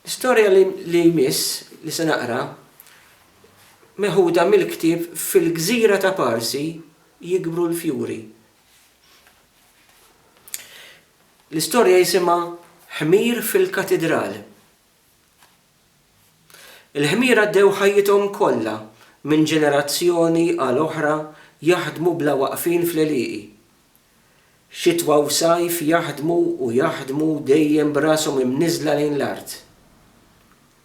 L-istorja li jmiss li se naqra meħuda mill-ktieb Fil-Gżira ta' Parsi Jikbru l-Fjuri. L-istorja jisimha Ħmir fil-Katidral. Il-ħmir għaddew ħajjithom kollha minn ġenerazzjoni għal oħra jaħdmu bla waqfien fl-għelieqi. Xitwa u sajf jaħdmu u jaħdmu dejjem b'rashom imniżżla lejn l-art.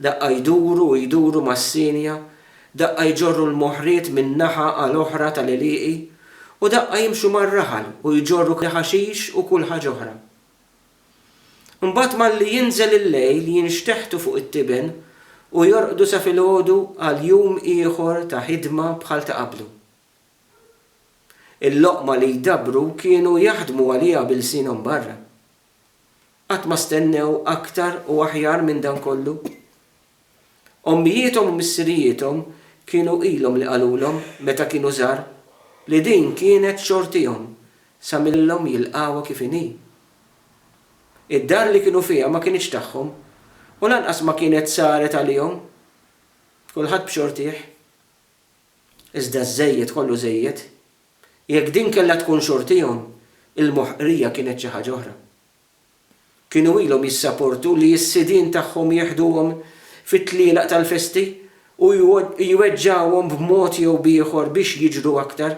Daqqa jduru u jduru mas-sienja, daqqa jġorru l-moħriet minn naħa għal oħra tal-għelieqi u daqqa jimxu mar-raħal u jġorru l-ħaxix u kull ħaġa oħra. Imbagħad malli jinżel il-lejl jinxteħtu fuq it-tiben u jorqdu sa filgħodu għal jum ieħor ta' ħidma bħal ta' qablu. Il-loqma li jdabbru kienu jaħdmu għaliha b'ilsienhom barra. Qatt ma stennew aktar u aħjar minn dan kollu. Ommijiethom u missirijiethom kienu ilhom li qalulhom meta kienu żgħar li din kienet xortihom sa millhom jilqgħuha kif inhi. Id-dar li kienu fiha ma kinitx tagħhom u lanqas ma kienet saret għalihom. Kulħadd b'xortih. Iżda ż-żejjed kollu żejjed. Jekk din kellha tkun xortihom, il-moħqrija kienet xi ħaġa oħra. Kienu ilhom jissaportu li s-sidien tagħhom jeħduhom fit-tlielaq tal-festi u jweġġgħuhom b'mod jew b'ieħor biex jiġru aktar.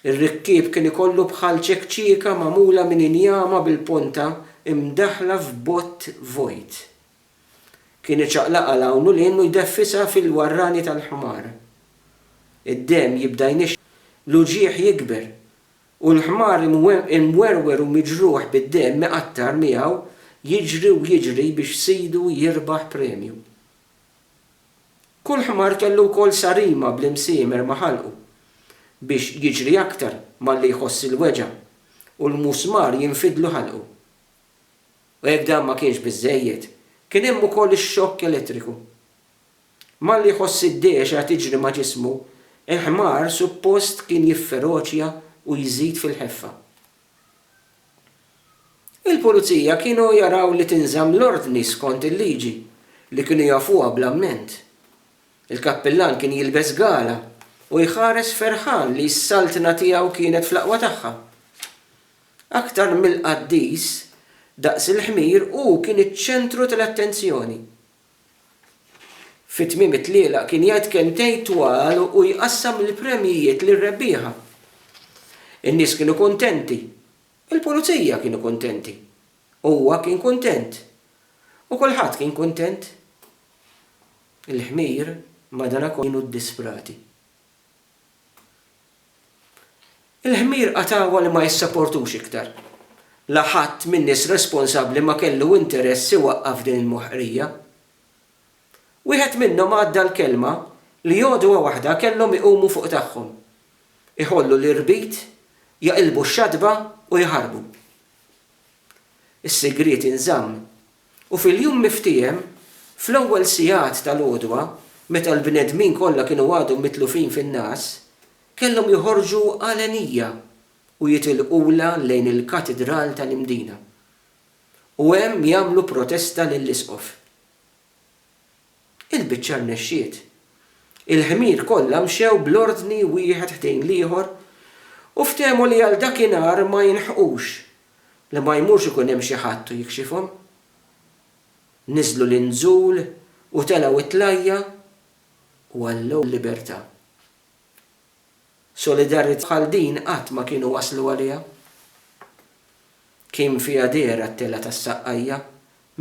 Ir-rikkieb kien ikollu bħal ċekċieka magħmula minn injama bil-ponta mdaħħla f'bott vojt. Kien iċaqlaqha 'l hawn u 'l hinn u jdeffisha fil-warrani tal-ħmar. Id-demm jibda jnixxi, l-uġigħ jikber, u l-ħmar imwerwer u miġruħ bid-demm iqattar miegħu jiġri u jiġri biex sidu jirbaħ premju. Kull ħmar kellu wkoll sarima bl-imsiemer ma' ħalqu biex jiġri aktar malli jħoss il-weġgħa u l-musmar jinfidlu ħalqu. U jekk dan ma kienx biżżejjed, kien hemm ukoll ix-xokk elettriku. Malli jħoss id-dehxa tiġri ma' ġismu, il-ħmar suppost kien jifferoċja u jżid fil-ħeffa. Il-Pulizija kienu jaraw li tinżamm l-ordni skont il-liġi, li kienu jafuha bl-amment. Il-kappillan kien jilbes gala u jħares ferħan li s-Saltna tiegħu kienet fl-aqwa tagħha. Aktar mill-qaddis, daqs il-ħmir hu kien iċ-ċentru tal-attenzjoni. Fi tmiem it-tlielaq kien jgħid kelmtejn twal u jqassam l-premjijiet lir-rebbieħa. In-nies kienu kuntenti. Il-pulizija kienu kuntenti. Huwa kien kuntent. U kulħadd kien kuntent. Il-ħmir, madankollu, kienu ddisprati. Il-ħmir qatgħuha li ma jissaportux iktar. La ħadd min-nies responsabbli ma kellu interess iwaqqaf din il-moħqrija. Wieħed minnhom għadda l-kelma li għodwa waħda kellhom iqumu fuq tagħhom, iħollu l-irbit, jaqilbu x-xatba u jaħarbu. Is-sigriet inżamm U fil-jum miftiehem, fl-ewwel sigħat tal-għodwa, meta l-bnedmin kollha kienu għadhom mitlufin fin-ngħas, kellhom joħorġu għalenija u jitilqulha lejn il-Katidral tal-Imdina, u hemm jagħmlu protesta lill-Isqof. Il-biċċa rnexxiet. Il-ħmir kollha mxew bl-ordni wieħed ħdejn l-ieħor u ftehmu li għal dakinhar ma jinħqux Li ma jmurx ikun hemm xi ħadd u jikxifhom. Niżlu l-inżul u telgħu t-tlajja' u għallew l-libertà. Solidarjità bħal din qatt ma kienu waslu għaliha. Kien fiha dehra t-telgħa tas-Saqqajja,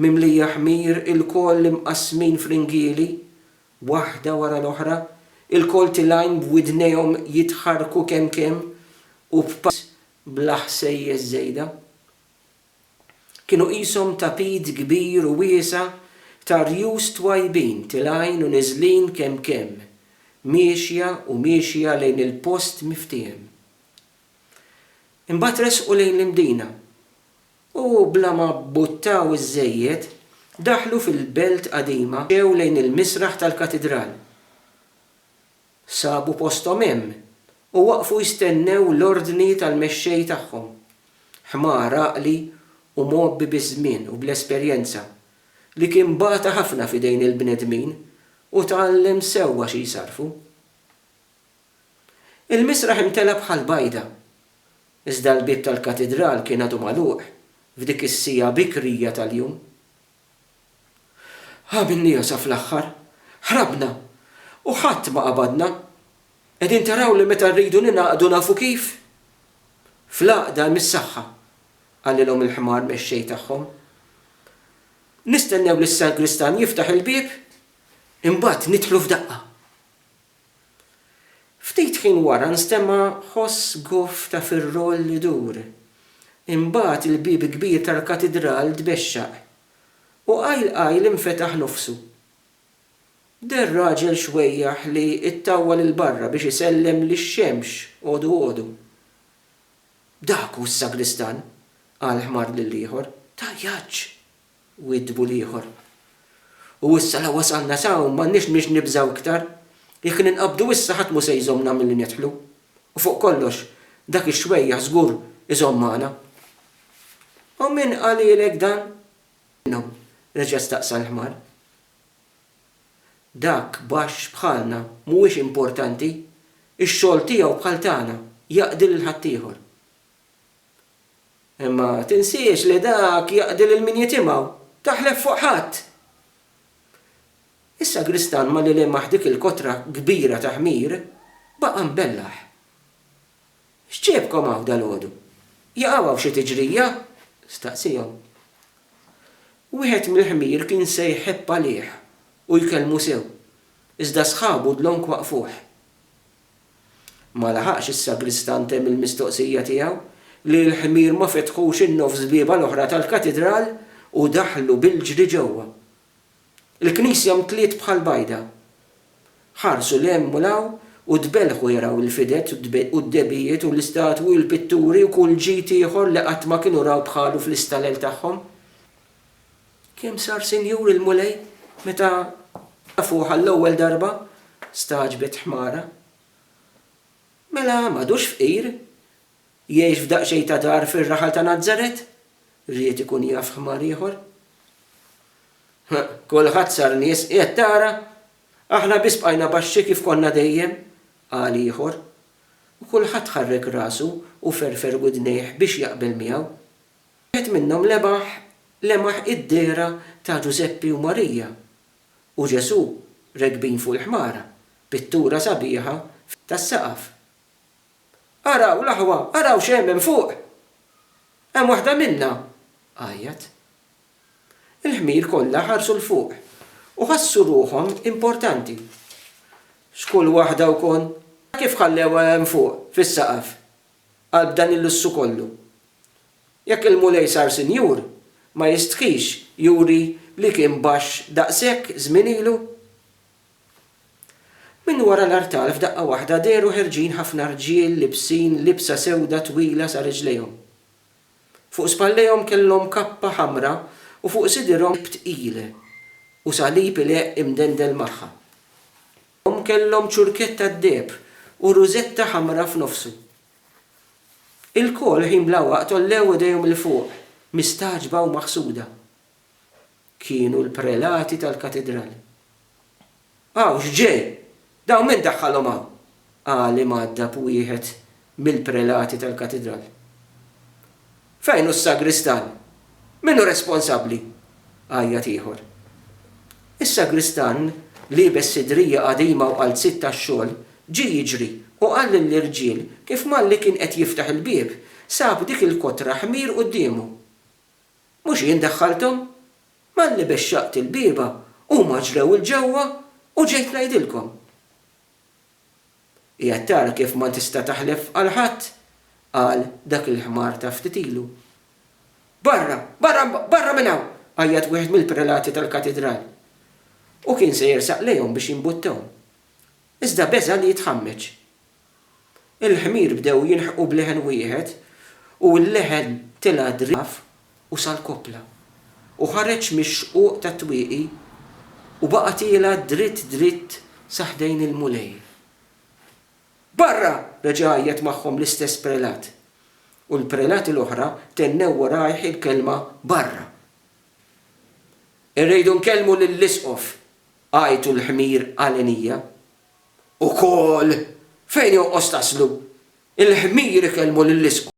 mimlija ħmir ilkoll imqassmin f'ringieli, waħda wara l-oħra, ilkoll tilgħin b'widnejhom jitħarrku kemm kemm u b'pass bla ħsejjes żejda. Kienu qishom tapit kbir u wiesa' ta' rjus twajbin tilgħin u niżlin kemm kemm, miexja u miexja lejn il-post miftiehem. Imbagħad resqu lejn l-Imdina u, bla ma bbuttaw iżżejjed, daħlu fil-Belt Qadima mxew lejn il-misraħ tal-Katidral. Sabu posthom hemm u waqfu jistennew l-ordni tal-mexxej tagħhom. Ħmar għaqli u mgħobbi biż-żmien u bl-esperjenza, li kien bata ħafna f'idejn il-bnedmin u tgħallem sewwa xi jsarrfu. Il-misraħ imtela' bħal bajda, iżda l-bieb tal-katidral kien għadu magħluq f'dik is-siegħa bikrija tal-jum. Għamilniha sa fl-aħħar, ħrabna, u ħadd ma qabadna. Qegħdin taraw li meta rridu ningħaqdu nafu kif? Fl-għaqda hemm is-saħħa, qalilhom il-ħmar mexxej tagħhom. Nistennew lis-sagristan jiftaħ il-bieb, imbagħad nidħlu f'daqqa. Ftit ħin wara nstema' ħoss goff ta' firroll idur. Imbagħad il-bieb kbir tal-katidral tbexxaq, u qajl qajl infetaħ nofsu. Deher raġel xwejjaħ li ttawwal 'il barra biex isellem lix-xemx għodu għodu. Dak hu s-sagristan! qal ħmar lill-ieħor. Tajjaġġ! Widbu l-ieħor. U issa la wasalna s'hawn m'għandniex mniex nibżgħu iktar. Jekk ninqabdu issa ħadd mhu se jżommna milli nidħlu. U fuq kollox, dak ix-xwejjaħ żgur iżomm magħna. U min qalilek dan? Minnu? reġa' staqsa l-ħmar. Dak baxx bħalna mhuwiex importanti. Ix-xogħol tiegħu bħal tagħna, jaqdi lil ħaddieħor. Imma tinsiex li dak jaqdi lil min jitimgħu. Taħlef fuq ħadd! Is-sagristan ma' lil imah dik il-kotra kbira ta' ħmir baqa' mbellah. X'ġiebkom hawn dalgħodu? Jaqaw hawn xi tiġrija? staqsiehom. Wieħed mill-ħmir kien se jħebb għalih u jkellmu sew, iżda sħabu dlonk waqqfuh. Ma laħaqx is-sagristan temm il-mistoqsija tiegħu, li l-ħmir ma fetħux in-nofs bieba l-oħra tal-katidral u daħlu bil-ġri ġewwa. Il-knisja mtliet bħall-bajda. Ħarsu 'l hemm u 'l hawn u tbelħu jaraw il-fided u d-dehbijiet u l-istatwi u l-pitturi u kull ġid ieħor li qatt ma kienu raw bħalu fl-istalel tagħhom. Kemm sar sinjur il-Mulej meta tafuh għall-ewwel darba? stagħġbet ħmara. Mela m'għadux fqir? Jgħix f'daqsxejn ta' dar fir-raħal ta' Nazaret? ried ikun jaf ħmar ieħor. Kulħadd sar nies, qiegħed tara? Aħna biss bqajna baxxi kif konna dejjem, qal ieħor, u kulħadd ħarrek rasu u ferfer widnejh biex jaqbel miegħu. Wieħed minnhom lebaħ lemaħ id-dehra ta' Ġużeppi u Marija u Ġesù rekbin fuq il-ħmara, pittura sabiħa tas-saqaf. Araw, l-aħwa, araw x'hemm hemm fuq! Hemm waħda minnha! għajjat. Il-ħmir kollha ħarsu 'l fuq u ħassu ruħhom importanti. X'kull waħda wkoll! Kif ħallewha hemm fuq, fis-saqaf? qalb dan il-lussu kollu. Jekk il-Mulej sar sinjur, ma jistħix juri li kien baxx daqshekk żmien ilu? Minn wara l-artal f'daqqa waħda dehru ħerġin ħafna rġiel libsin libsa sewda twila sa riġlejhom. Fuq spallejhom kellhom kappa ħamra u fuq sidirhom tqil u salib ileqq imdendel magħha. Hom kellhom ċurkett tad-deheb u rużetta ħamra f'nofsu. Ilkoll ħin bla waqt għollew idejhom 'il fuq, mistagħġba u maħsuda. Kienu l-prelati tal-katidral. Hawn x'ġej? Dawn min daħħalhom hawn? qal imgħaddab wieħed mill-prelati tal-katidral. Fejn hu s-sagristan? Min hu responsabbli? għajjat ieħor. Is-sagristan, liebes sidrija qadima u qalziet tax-xogħol, ġie jiġri u qal lill-irġiel kif malli kien qed jiftaħ il-bieb, sab dik il-kotra ħmir quddiemu. Mhux jien daħħalthom? Malli bexxaqt il-bieba, huma ġrew 'il ġewwa u ġejt ngħidilkom. Qiegħed tara kif ma tista' taħlef għal ħadd, qal dak il-ħmar ta' ftit ilu. Barra! Barra! Barra minn hawn! għajjat wieħed mill-prelati tal-katidral. Hu kien se jersaq lejhom biex jimbuttahom. Iżda beża' li jitħammeġ. Il-ħmir bdew jilħqu b'leħen wieħed u l-leħen tela' driegħef u sal-koppla, u ħareġ mix-xquq tat-twieqi u baqa' tiela' dritt dritt sa ħdejn il-Mulej. Barra! reġa' għajjat magħhom l-istess prelat, u l-prelati l-oħra tennew warajh il-kelma barra. Irridu nkellmu lill-Isqof, għajtu l-ħmir għalenija, Ukoll, fejn jonqos taslu, il-ħmir ikellmu lill-isqof.